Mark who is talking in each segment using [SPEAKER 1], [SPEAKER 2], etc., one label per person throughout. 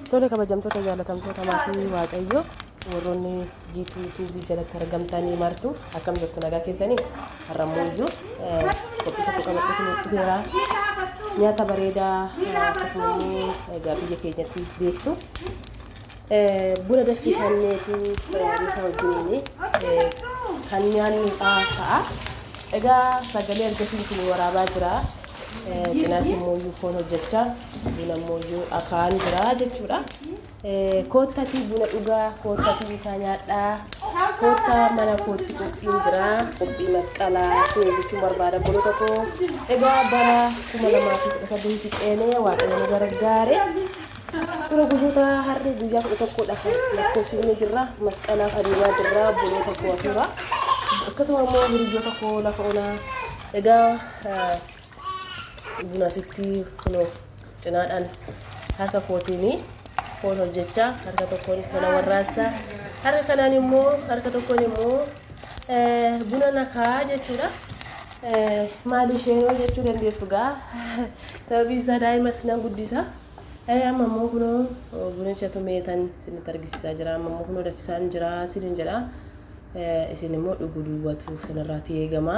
[SPEAKER 1] Tole kabajamtoota jaalatamtoota maatii waaqayyo warroonni jiitii tiivii jalatti argamtanii martu akkam jirtu nagaa keessanii har'ammoo iyyuu qophii tokko qabadhe isinitti beeraa nyaata bareedaa akkasuma immoo egaa biyya keenyatti beektu buna daffii kanneetu misa wajjiniin kan nyaannu ta'a. Egaa sagalee argisiisu waraabaa jira. Cinaatti immoo foon hojjechaa Kun ammoo iyyuu akaan jira jechuudha. Koottatii buna dhugaa, koottatii isaa nyaadhaa, koottaa mana kootti qophiin jira, qophii masqalaa siin jechuun barbaada bolota koo. Egaa bara kuma lamaa fi kudha saddeeti ceenee waaqayyo nu gargaare. Tura guyyoota harri guyyaa kudha tokkodha kan lakkoofsifne jirra. Masqalaaf adeemaa jirra bolota koo hafuura. Akkasuma immoo hiriyoota koo lafa onaa. Egaa Buna asitti kunoo cinaadhaan harka kootiin foon hojjechaa harka tokkoon sana warraassaa harka kanaan immoo harka tokkoon immoo buna nakaa jechuudha. Maali isheenoo jechuu dandeessu gaa sababii isaa daa'imas nan guddisa. Amma immoo kunoo bunicha tumeetan isinitti argisiisaa jira. Amma immoo kunoo daffisaan jira isinin jedha. Isin immoo dhuguu duwwatu isinirraa eegama.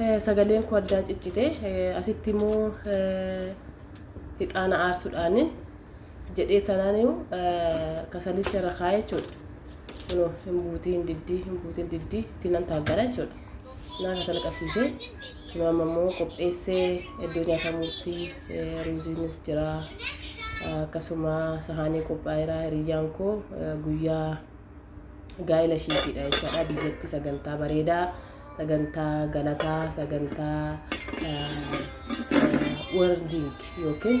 [SPEAKER 1] Eh, sagaleen koo addaan ciccite Eh, asitti immoo eh, hixaana aarsuudhaan jedhee tanaan immoo eh, kasalicha irra kaa'ee jechuudha. Kunoo hin buutii hin diddii hin buutii hin diddii itti nan taaggara jechuudha. Nyaata sana qabsiisee nu amma immoo qopheessee iddoo nyaatamuutti ruuziinis jira. Akkasuma sahaanii qophaa'eera hiriyyaan koo guyyaa gaa'ela ishiitiidha jechaadha. Biyyatti sagantaa bareedaa, sagantaa galataa, sagantaa weerdiing yookiin